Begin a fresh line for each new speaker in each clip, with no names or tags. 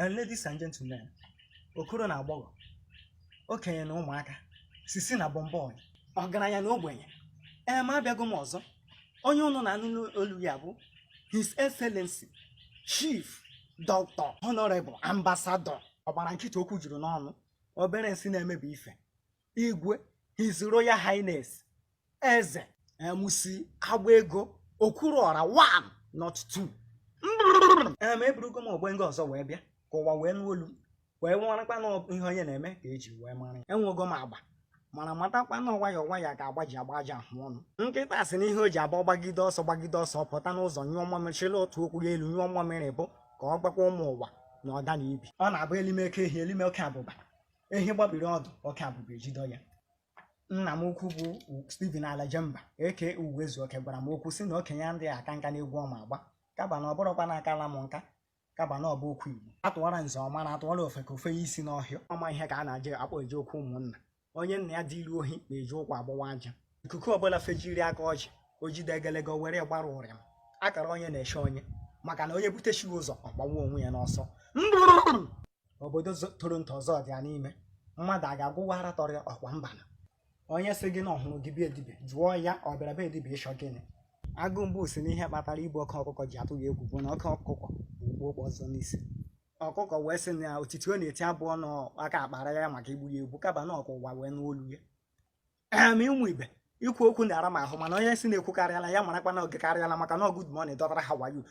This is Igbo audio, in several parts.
And ladies and gentlemen, okoro na agbọghọ, okenye na ụmụaka, sisi na bọmbọị, ọgaranya na ogbenye, ee ma abịago m ọzọ, onye ụnụ na-anụ olu ya bụ His Excellency Chief Dr. Honorable Ambassador ọ gbara nkịtị okwu juru n'ọnụ obere nsị na-emebi ife igwe his royal highness eze MC agba ego okwuru ọra one not two em eburugo m ogbe nga ọzọ wee bịa ka ụwa wee nụ olu m wee marakwa na ihe onye na-eme ka e ji wee mara ya enwego m agba mana matakwa na nwayọ nwayọ ka agba ji agba ajị ahụ ọnụ nkịta sị na ihe o ji abụ ọ gbagide ọsọ gbagide ọsọ pụta n'ụzọ nyụọ mmamịrị chịrị otu ụkwụ ya elu nyụọ mmamịrị bụ ka ọ gbakwa ụmụ ụwa na ọda na ibi ọ na-abụ e lime oke ehi e lime oke abụba ehi gbabiri ọdụ oke abụba ejido ya nna m ukwu bụ Stephen Alajemba aka Ụwaezuoke gwara m okwu sị na okenye adịa aka nka n'egwu ọ ma agba kaba na ọ bụrụkwa na akala m nka kaba na ọ bụ okwu Igbo atụwara nze ọ mara atụwara ofeke o fenye isi n'ọhịa ọma ihe ka a na-aje akpọ eje okwu ụmụnna onye nna ya duru ohi na-eji ụkwụ agbawa aja ikuku ọbụla fejiri aka ọjị o jide egelege were gbara ụrịa m akara onye na-eche onye maka na onye butechighị ụzọ ọ gbawa onwe ya n'ọsọ obodo toro nto ọzọ dị ya n'ime mmadụ a ga-agwụwa ara tọrọ ya ọkwa mbanụ onye sị gị na ọ hụrụ gị be dibịa jụọ ya ọ bịara be dibịa ịchọ gịnị agụ mbụ sị na ihe kpatara igbu oke ọkụkọ ji atụ ya egwu bụ na oke ọkụkọ kpu okpu ọzọ n'isi ọkụkọ wee sị na otiti ọ na-eti abụọ na aka akpara ya maka igbu ya egbu kaba na ọ ka ụwa wee nụ olu ya em ụmụ ibe ikwu okwu na-ara m ahụ mana onye sị na ekwukarịala ya marakwa na o gekarịala maka na good morning dọtara how are you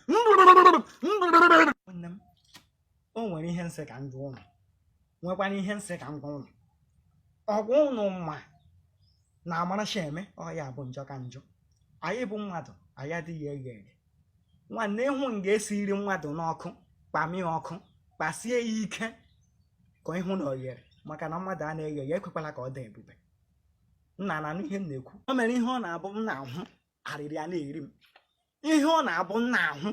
nne m o nwere ihe m sị ka m jụọ ụnụ nwekwana ihe m sị ka m gwa ụnụ ngwa ụnụ ma na amaracha eme ọ ya bụ njọ ka njọ anyị bụ mmadụ anyị adịghị eghe eghe nwanne ị hụ nga e siri mmadụ n'ọkụ kpamie ọkụ kpasie ya ike ka ị hụ na o yere maka na mmadụ a na-eghe ya ekwekwala ka ọ dị ebube nna na-anụ ihe m na-ekwu o nwere ihe ọ na-abụ m na-ahụ arịrị a na-eri m ihe ọ na-abụ m na-ahụ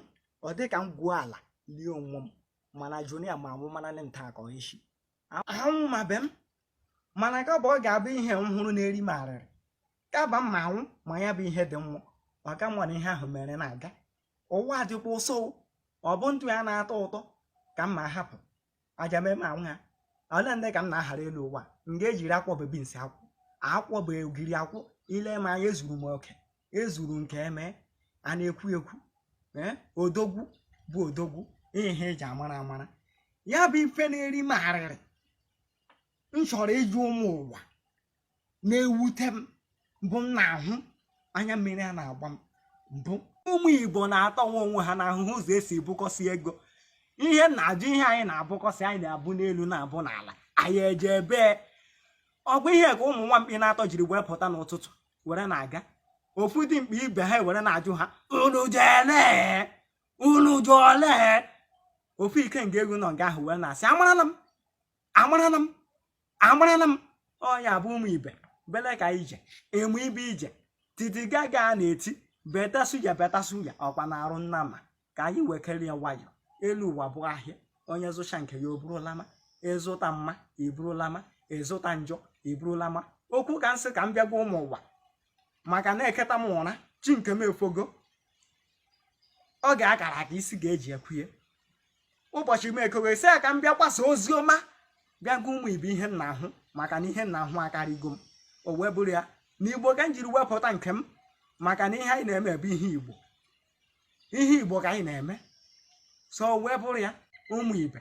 ọ dị ka m gwuo ala lie onwe m mana Junior ma anwụ mana ndị nta akọ isi anwụ ma be m mana ka bụ ọ ga-abụ ihe m hụrụ na-eri m arịrị kaba m ma anwụ ma ya bụ ihe dị mmụọ maka m ma na ihe ahụ mere na-aga ụwa dịkwa ụsọ ọ bụ ndụ ya na-atọ ụtọ ka m ma hapụ aja mee m anwụ ha ole ndị ka m na-ahara elu ụwa m ga-ejiri akwọ bebi nsị akwụ akwọ bụ ogiri akwụ ile m anya ezuru m oke ezuru nke eme a na-ekwu ekwu eh, odogwu bụ odogwu ihe eji amara amara ya bụ ife na-eri m arịrị m chọrọ ịjụ ụmụ ụwa na-ewute m bụ m na-ahụ anya mmiri a na-agba m bụ ụmụ igbo na-atọwa onwe ha n'ahụhụ ụzọ esi ebukọsị ego ihe m na-ajụ ihe anyị na-abụkọsị anyị na-abụ n'elu na-abụ n'ala anyị eje ebe ọgwa ihe ka ụmụ nwa mkpi n'atọ jiri wee pụta n'ụtụtụ were na-aga ofu dimkpa ibe ha were na-ajụ ha unu je ole unu je ole ofu ikenga egwu nọ nga ahụ wee na-asị amarana m amarana m amarana m ọ ya bụ ụmụ ibe bele ka ije emu ibe ije titi gaga na-eti better suya better suya ọkwa na arụ nnama ka anyị wekere ya nwayọọ elu ụwa bụ ahịa onye zụcha nke ya o buru lama ị zụta mma i buru lama ị zụta njọ i buru lama okwu ka m sị ka m bịa gwa ụmụ ụwa maka na eteta m ụra chi nke m efogo ọ ga-akara aka isi ga-eji ekwuye ụbọchị m ekowe sị ya ka m bịa gbasa ozi ọma bịa gwa ụmụ ibe ihe m na-ahụ maka na ihe m na-ahụ akarịgo m o wee bụrụ ya na igbo ka m jiri wee pụta nke m maka na ihe anyị na-eme bụ ihe igbo ihe igbo ka anyị na-eme so wee bụrụ ya ụmụ ibe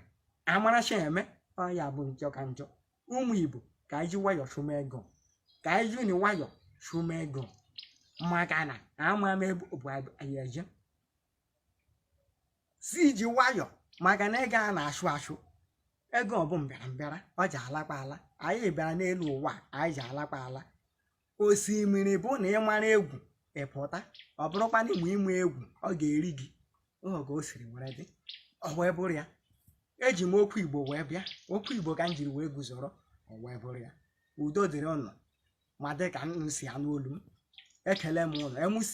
amaracha eme ọ ya bụ njọ ka njọ ụmụ igbo ka anyị ji nwayọọ chụma ego ka anyị jini nwayọọ chụma ego maka na ama m ebe bụ anyị eje si iji nwayọọ maka na ego a na-achụ achụ ego bụ mbịara mbịara ọ ji alakpa ala anyị bịara n'elu ụwa anyị ji alakpa ala osimiri bụ na ị mara egwu ị pụta ọ bụrụkwa na ị maghị egwu ọ ga-eri gị ụhọ ka o siri were dị ọ wee bụrụ ya eji m okwu igbo wee bịa okwu igbo ka m jiri wee guzoro ọ wee bụrụ ya udo dịrị ụnụ ma ndị ka nọsị anụ olu m ekele m ụnụ mc